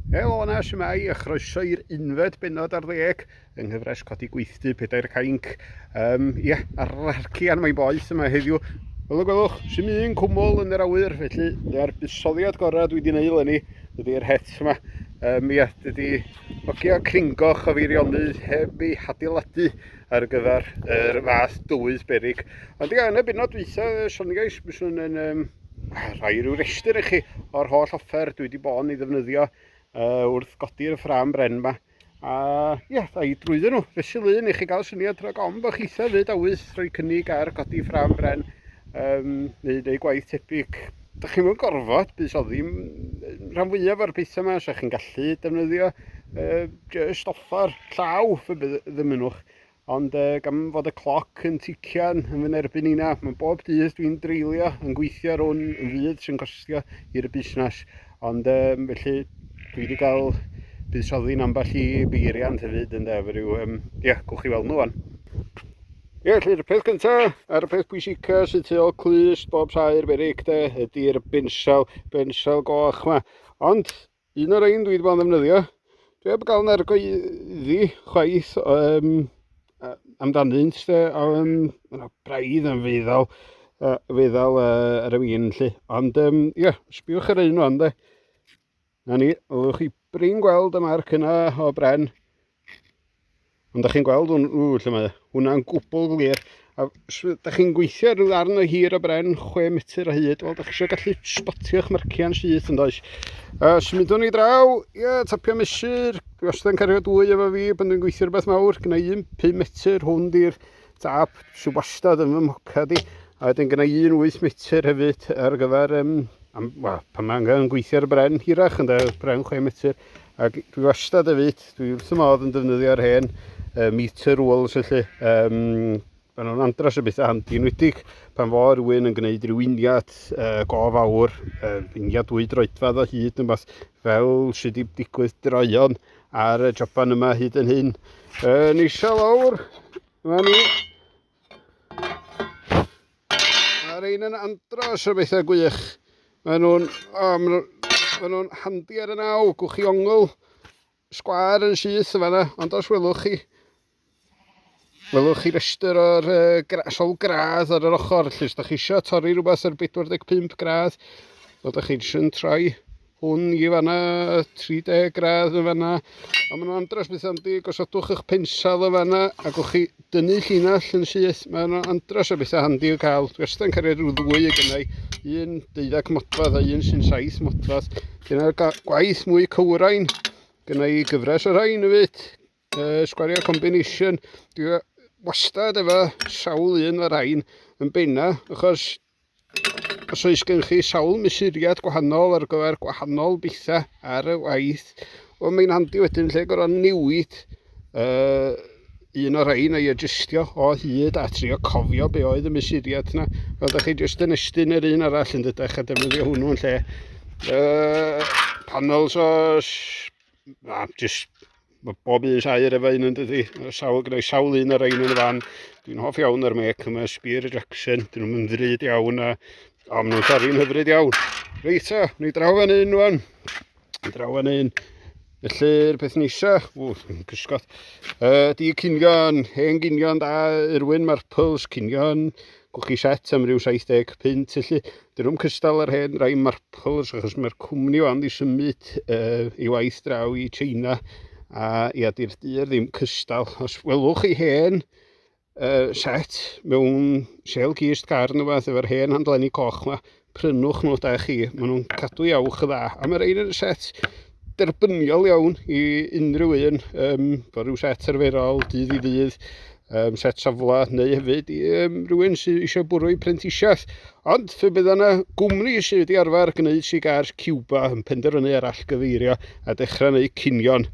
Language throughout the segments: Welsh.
Helo yna, siwmai, a chroeso i'r unfed benod ar ddeg yng nghyfres Codi Gweithdy, Pedair Cainc. Um, ie, yeah, ar yr arcian mae'n boeth yma heddiw. Fel y gwelwch, sy'n un cwmwl yn yr awyr, felly dyna'r busoddiad gorau dwi wedi gwneud lenni, dydy'r het yma. Um, ia, dydy ogio cringoch o feirionydd heb ei hadeiladu ar gyfer yr er fath dywydd berig. Ond yn y bennod dwytha, Sonny Guys, byswn yn um, rhoi rhyw restr i chi o'r holl offer dwi wedi bod yn ei ddefnyddio uh, wrth godi'r ffram bren yma. A ie, yeah, i drwyddo nhw, fesul un i chi gael syniad rhag ofn bod chi eitha fyd awydd rhoi cynnig ar godi ffram bren um, neu neu gwaith tebyg. Dych chi'n mynd gorfod bys o ddim rhan fwyaf o'r pethau yma, so chi'n gallu defnyddio uh, just off Ffordd llaw, fe bydd ddymunwch. Ond uh, gan fod y cloc yn tician yn fy nerbyn i na, mae bob dydd dwi'n dreulio yn gweithio ar hwn yn fydd sy'n costio i'r busnes. Ond um, felly dwi wedi cael buddsoddi yn ambell i beiriant hefyd yn def, rhyw, um, ia, gwch chi weld nhw fan. Ie, yeah, felly'r peth cyntaf, a'r peth pwysica sy'n tu ôl clust bob saer berig de, ydy'r bensel, bensel goch yma. Ond, Un o'r ein dwi wedi bod yn ddefnyddio. Dwi heb gael nergo i ddi chwaith um, amdanynt. Um, Mae'n braidd yn feddal, uh, feddal uh, ar y fin lle. Ond ie, um, yeah, sbiwch ar un o'n de. Na ni, ywch chi brin gweld y marc yna o bren. Ond da chi'n gweld hwn, ww, lle mae hwnna'n gwbl glir. A da chi'n gweithio rhyw ddarn o hir o bren, 6 metr o hyd, wel, da chi eisiau gallu spotio'ch marciau'n syth yn does. A symudwn ni draw, ia, tapio mesur, wastad yn cario dwy efo fi, pan dwi'n gweithio rhywbeth mawr, gyda un 5 metr, hwn di'r tap sy'n wastad yn fy mhoca di, a wedyn gyda un 8 metr hefyd ar gyfer, um, am, well, pan mae angen gweithio ar y bren hirach, yn da, bren 6 metr, Ac dwi wastad hefyd, dwi wrth y modd yn defnyddio'r hen uh, meter rules felly. Um, Mae'n nhw'n andros o bethau handi, enwedig pan fo rhywun yn gwneud rhyw uniad uh, go fawr, uh, uniad dwy droedfad o hyd yn beth fel sydd wedi digwydd droion ar y joban yma hyd yn hyn. Uh, Neisa lawr, yma ni, Mae'r ein yn andros o bethau gwych. Mae nhw'n um, ma nhw handi ar y naw, gwch chi ongl, sgwar yn syth yma yna, ond os welwch chi, welwch chi restr o'r uh, gra, sol gradd ar yr ochr, lle ydych chi eisiau torri rhywbeth ar 45 gradd, fel ydych chi eisiau troi Hwn i fanna, 30 gradd yn fanna. A maen nhw'n andros beth am di, gosodwch eich pensal yn fanna, ac o'ch chi dynnu llinell yn syth. Maen nhw'n andros o bethau handi o cael. Dwi wastad yn cario rhyw ddwy y gynnau, un deuddag modfadd a un sy'n saith modfadd. Dyna'r gwaith mwy cywrain. Gynnau gyfres o rhain y fyd. Uh, sgwario combination, dwi e- wastad efo sawl un o'r rhain yn benna, achos os oes gen chi sawl mesuriad gwahanol ar gyfer gwahanol bethau ar y waith, wel mae'n handi wedyn lle gorau newid uh, un o'r rhain a'i adjustio o hyd a trio cofio be oedd y mesuriad yna. Fel ydych chi jyst yn estyn yr un arall yn dydych a defnyddio hwnnw yn lle uh, panels o a jyst mae bob un sair efo un yn dydi. Sawl, gyda'i sawl un ar ein yn y fan. Dwi'n hoff iawn o'r mec yma, Spear Jackson. Dyn nhw'n mynd ddrud iawn a o, maen nhw'n torri'n hyfryd iawn. Reit o, ni draw yn un rwan. Ni draw yn un. Felly'r peth nisa, ww, yn cysgod, uh, di cynion, hen gynion da, Irwin, Marples, cynion, Gwch chi set am ryw 70 punt felly. Dyn nhw'n cystal ar hen rai marples achos mae'r cwmni o'n di symud uh, i waith draw i China a ia di'r dyr ddim cystal. Os welwch chi hen uh, set mewn sel gist car neu fath efo'r hen handlenni coch ma, prynwch nhw da chi. Maen nhw'n cadw iawch y dda. A mae rhaid yn set derbyniol iawn i unrhyw un. Um, bod rhyw set arferol, dydd i ddydd, um, set safle, neu hefyd i um, rhywun sydd eisiau bwrw i prentisiaeth. Ond fe bydd yna gwmni sydd wedi arfer gwneud sigars Cuba yn penderfynu ar allgyfeirio a dechrau neu cinion.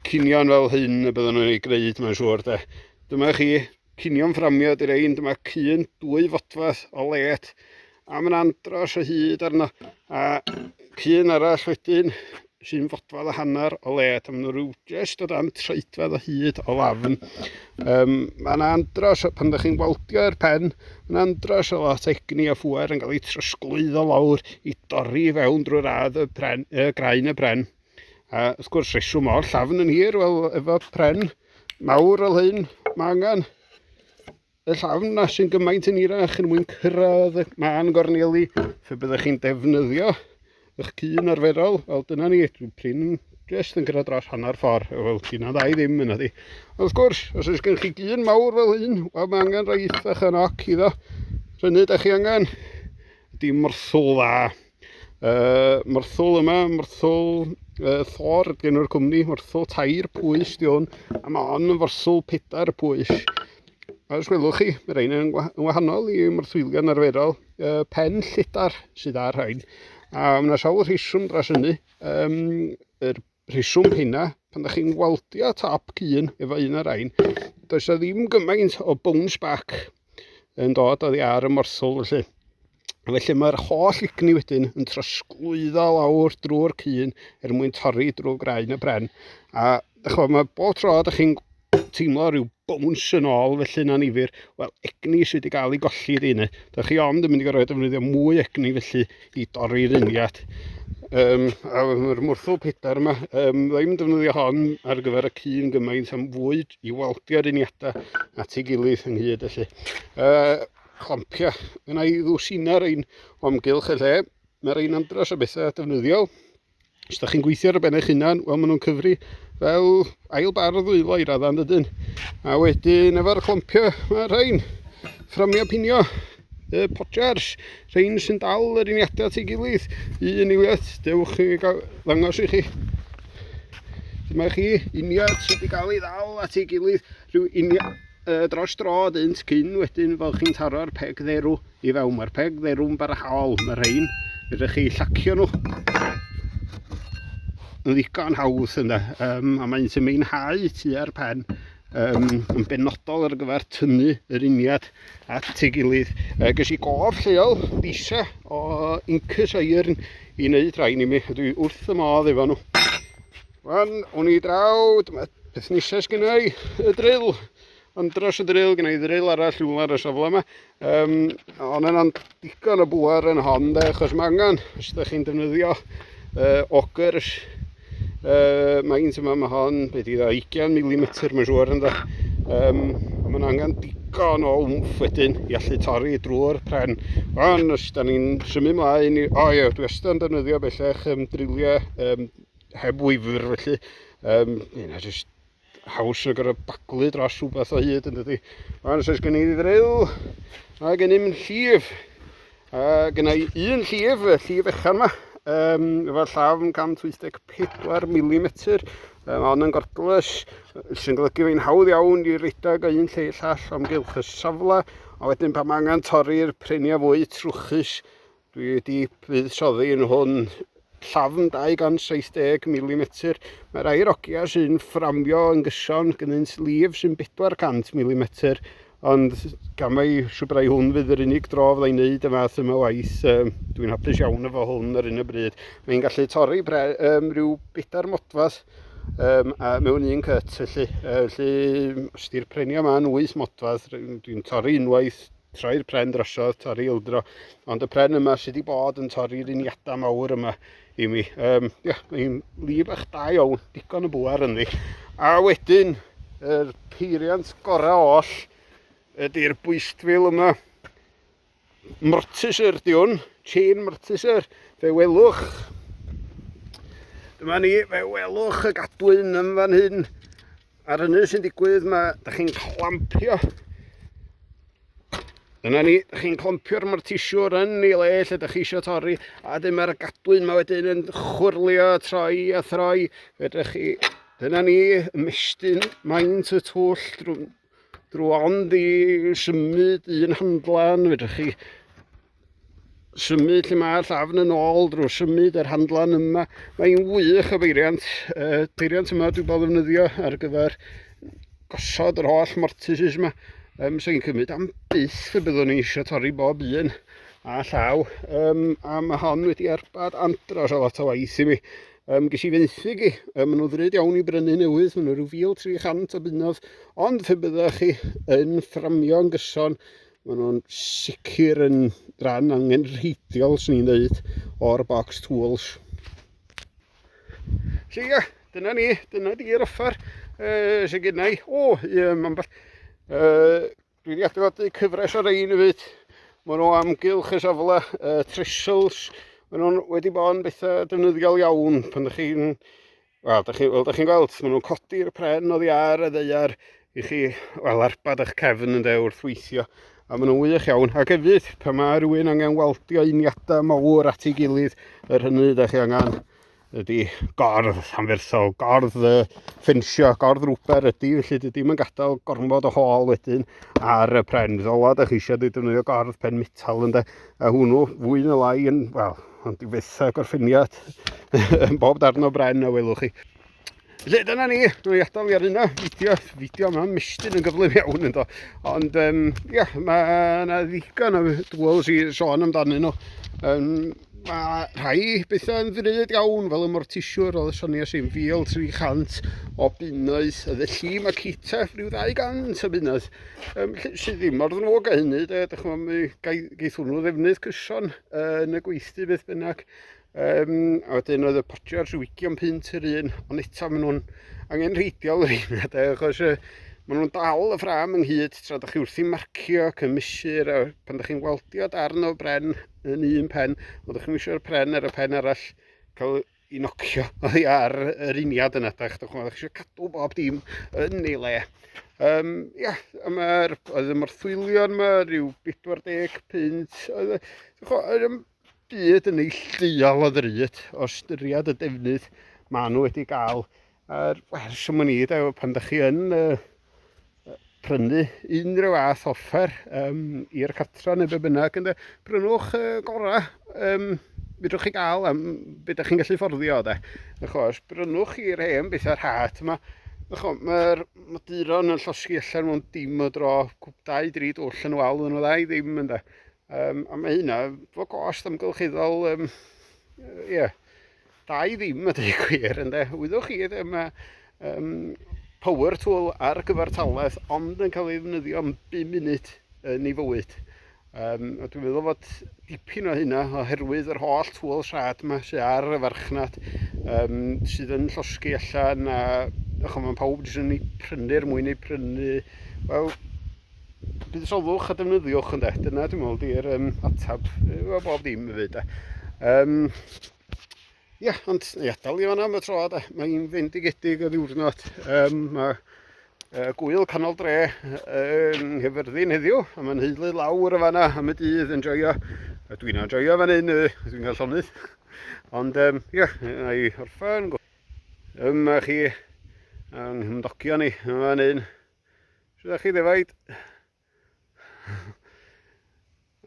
Cinion fel hyn y byddwn nhw'n ei gwneud, mae'n siŵr. De. Dyma chi Cinio'n fframio di'r ein, dyma cyn dwy fodfath o let a mae'n andros o hyd arno a cyn arall wedyn sy'n fodfadd o hanner o let a maen nhw rhyw jyst o dan treidfedd o hyd o lafn. Um, mae'n andros o, pan ydych chi'n waldio'r pen, mae'n andros o lot egni a phwer yn cael ei trosglwyddo lawr i dorri fewn drwy'r radd y, pren, y graen y bren. A wrth gwrs, rheswm o'r llafn yn hir, wel, efo pren mawr fel hyn, mae angen y llafn na sy'n gymaint yn hirach yn mwyn cyrraedd y man gorneli fe byddwch chi'n defnyddio eich cyn arferol. Wel, dyna ni, dwi'n prin jyst yn cyrraedd dros hanner ffordd. Wel, dyna dda i ddim yna di. Wrth gwrs, os oes gen chi gyn mawr fel hyn, wel, mae angen rhoi eithaf yn oc iddo. Rhynny, da chi angen. Dim wrthol dda. Uh, myrthwl yma, myrthwl uh, thor ydy enw'r cwmni, myrthwl tair pwys di hwn, a mae hon yn forswl pedair pwys. A os welwch chi, mae rhain yn wahanol i myrthwylion arferol, uh, pen llitar sydd ar rhain. A mae yna sawl rheswm dros hynny, um, yr rheswm hynna, pan da chi'n weldio top cyn efo un ar ein, does o ddim gymaint o bounce back yn dod oddi ar y morthwl felly. Felly mae'r holl igni wedyn yn trosglwyddo lawr drwy'r cyn er mwyn torri drwy graen y bren. A chwa, mae bob tro da chi'n teimlo rhyw bwns yn ôl felly'n anifyr. Wel, egni sydd wedi cael ei golli ydy hynny. Da chi ond yn mynd i gorfod defnyddio mwy egni felly i dorri'r uniad. Um, a mae'r mwrthwl pedair yma, um, ddim yn defnyddio hon ar gyfer y cyn gymaint am fwy i waldio'r uniadau at ei gilydd ynghyd felly. Uh, clampia, yna i ddwsina'r ein omgylch y lle, mae'r ein andros o bethau defnyddiol Os da chi'n gweithio ar y ben eich hunan, wel maen nhw'n cyfri fel ail bar o ddwylo i raddan dydyn. A wedyn efo'r clompio, mae rhain fframio pinio y potjars, rhain sy'n dal yr uniadau at ei gilydd, un i wyth, dewch chi gael ddangos i chi. Dyma chi uniad sydd wedi cael ei ddal at ei gilydd rhyw uniad uh, dros dro dynt cyn wedyn fel chi'n taro'r peg dderw. I fewn, mae'r peg dderw'n barhaol, mae'r rhain, ydych chi llacio nhw yn ddigon hawdd yna, um, a mae'n sy'n meinhau tua'r pen um, yn benodol ar gyfer tynnu yr uniad at ei gilydd. Uh, ges i gof lleol disa o Incus Iron i wneud rhain i mi, a dwi wrth y modd efo nhw. Wan, o'n i draw, dyma peth nesaf sgynnau, y drill. Ond dros y ddril, gen i ddril arall rhywle ar y safle yma. Um, ond yna'n digon o bwar yn hon, de, achos mae angen, os ydych chi'n defnyddio uh, ogers, uh, mae un yma, mae hon, beth i dda, 20 mm, mae'n siŵr ynddo. Um, ond mae'n angen digon o wmff wedyn i allu torri drwy'r pren. Ond os da ni'n symud mlaen, i, o ie, dwi wastad yn defnyddio bellach um, driliau um, heb wyfr felly, um, yna jyst haws na gyda baglu dros rhywbeth o hyd yn dydy. Ond os oes gen i ddrew a gen i'm llif, a gen i un llif, y llif echan yma, um, efo llaf yn 184 mm, um, ond yn gordlus, sy'n golygu fei'n hawdd iawn i redag o un lle i llall o'm gylch y safle, a wedyn pan mae angen torri'r prenia fwy trwchus, Dwi wedi buddsoddi yn hwn llafn 270 mm. Mae'r air ogia sy'n fframio yn gyson gynynt lif sy'n 400 mm, ond gan mai siwbrau hwn fydd yr unig dro fydda i'n neud y fath yma waith, um, dwi'n hapus iawn efo hwn ar un y bryd. Mae'n gallu torri pre, um, rhyw bedair modfath um, a mewn un cyt, felly, uh, felly os di'r prenia yma'n 8 modfadd, dwi'n torri unwaith, troi'r pren drosodd, torri ildro, ond y pren yma sydd wedi bod yn torri'r uniadau mawr yma i mi. Um, yeah, Mae'n lif eich da iawn, digon o bwar ynddi. A wedyn, yr er peiriant gorau oll ydy'r bwystfil yma. Mortiser di hwn, chain mortiser, fe welwch. Dyma ni, fe welwch y gadwyn yn fan hyn. Ar hynny sy'n digwydd, mae, da chi'n clampio. Dyna ni, da chi'n clampio'r mae'r tisiwr yn ei le lle da chi eisiau torri, a dyn mae'r gadwyn mae wedyn yn chwrlio, troi a throi. Fedra chi, dyna ni, ymestyn maint y twll drwy, drwy ond i symud un handlan, fedra chi symud lle mae llafn yn ôl drwy symud yr handlan yma. Mae'n wych o feiriant. E, peiriant yma dwi'n bod ddefnyddio ar gyfer gosod yr holl mortises yma. Um, so i'n cymryd am byth y byddwn ni eisiau torri bob un a llaw. Um, a mae hon wedi erbad andros o lot o waith i mi. Um, ges i fenthyg i, um, maen nhw ddrud iawn i brynu newydd, maen nhw rhyw 1300 o bunnodd, ond fe byddwch chi yn fframio'n gyson Maen nhw'n sicr yn ran angenrheidiol, swn i'n dweud, o'r box tools. So ia, dyna ni, dyna di'r offer uh, sy'n gennau. O, um, ambell, uh, dwi wedi adrodd cyfres ar ein i fyd. Maen nhw amgylch y safle, uh, trissels, maen nhw'n wedi bod yn bethau defnyddiol iawn pan ydych chi'n Wel, da chi, wel, da chi'n gweld, maen nhw'n codi'r pren oddi ar y ddeiar i chi, wel, arbad eich cefn yn de wrth weithio. A maen nhw'n wych iawn. Ac hefyd, pa mae rhywun angen waldio uniadau mawr at ei gilydd, yr hynny da chi angen ydy gordd anferthol, gordd y ffensio, gordd rwber ydy, felly dydy mae'n gadael gormod o hôl wedyn ar y pren. Ddola, da chi eisiau defnyddio gordd pen metal ynde, a hwnnw fwy na lai yn, wel, Ond dwi byth â gorffeniad yn bob darn o bren a welwch chi. Felly dyna ni, dwi'n adael fi ar yna, fideo, fideo yma, mestyn yn gyflym iawn ynddo. Ond um, ia, mae yna ddigon o dwls i sôn amdanyn nhw. Um, mae rhai bethau yn ddrud iawn fel y mortisiwr oedd y Sonia sy'n fil 300 o bunnoedd y felly mae Cita rhyw 200 o bunnoedd um, sydd ddim mor ddrwg a hynny de, dych chi'n gaeth hwnnw ddefnydd cyson yn y gweithdy beth bynnag. Um, a wedyn oedd y potio ar rhywicion pint yr un, ond eto maen nhw'n angen rheidiol yr un, achos uh, maen nhw'n dal y ffram ynghyd tra da chi wrth i marcio, cymysur, a pan da chi'n weldio darn o bren yn un pen, ond da chi'n misio'r pren ar y pen arall, cael i nocio oddi ar yr uniad yna, da, chydwch chi'n eisiau cadw bob dim yn ei le. Um, ia, yma'r, oedd y morthwylion yma, rhyw 40 pint, oedd y, oedd y byd yn ei lleol o ddryd, o styriad y defnydd maen nhw wedi gael. A'r, wel, siwm o'n i, da, pan da chi yn, uh, prynu unrhyw fath offer um, i'r cartra neu be bynnag, ynddo, prynwch y uh, gorau um, fydwch chi gael am beth ydych chi'n gallu fforddio, de. Achos, prynwch chi'r hen bethau rhad yma, Mae'r maduron yn llosgi allan mewn dim o dro, dau, dri dwll yn wal yn y ddau ddim yn da. Um, a mae hynna, fo gost amgylcheddol, um, yeah, Da i ddim a dweud y gwir ynde. Wyddwch chi ddim y um, power tool ar gyfartaledd ond yn cael ei ddefnyddio am 5 munud yn ei fywyd. Um, a dwi'n meddwl fod dipyn o hynna oherwydd yr holl tŵl rhad yma sydd ar y farchnad um, sydd yn llosgi allan a ych mae pawb jyst yn ei prynu'r mwyn ei prynu wel buddsodwch a defnyddiwch ynde dyna dwi'n meddwl di'r um, atab bob ddim hefyd um, Ia, ond ni adael i fanna am y tro de. Mae'n fendigedig y ddiwrnod. Um, mae uh, gwyl canol dre yn uh, hyfyrddin heddiw, a mae'n heulu lawr y fanna am y dydd yn joio. A dwi'n joio fan hyn, uh, dwi'n cael llonydd. Ond um, ia, na i orffen. Yma chi, yng nghymdogion ni, yma fan hyn. Sut ydych chi ddefaid?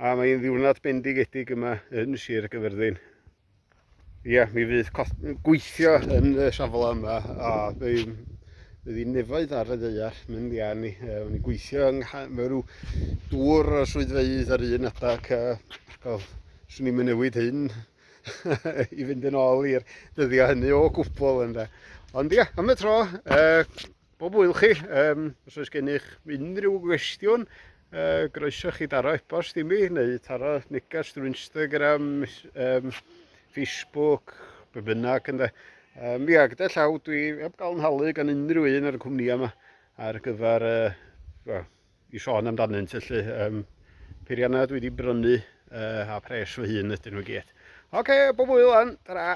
A mae'n ddiwrnod bendigedig yma yn Sir Gyfyrddin. Ia, mi fydd gweithio yn y safle yma a bydd bydd i nefoedd ar y ddeiar mynd i arni. Uh, o'n i'n gweithio yng mewn rhyw dŵr o swyddfeydd ar un adeg a well, swn i'n newid hyn i fynd yn ôl i'r dyddiau hynny o gwbl ynda. Ond ia, am y tro, uh, Bob hwyl chi, um, os oes gennych unrhyw gwestiwn, uh, groeso chi daro e-bost i mi, neu taro neges drwy Instagram, um, Facebook, be bynnag ynde. Um, ia, gyda llaw dwi heb gael yn halu gan unrhyw un ar y cwmni yma ar gyfer uh, well, i sôn amdanynt felly um, peiriannau dwi wedi brynu uh, a pres fy hun ydyn nhw gyd. Oce, okay, bob wyl an, ta-ra!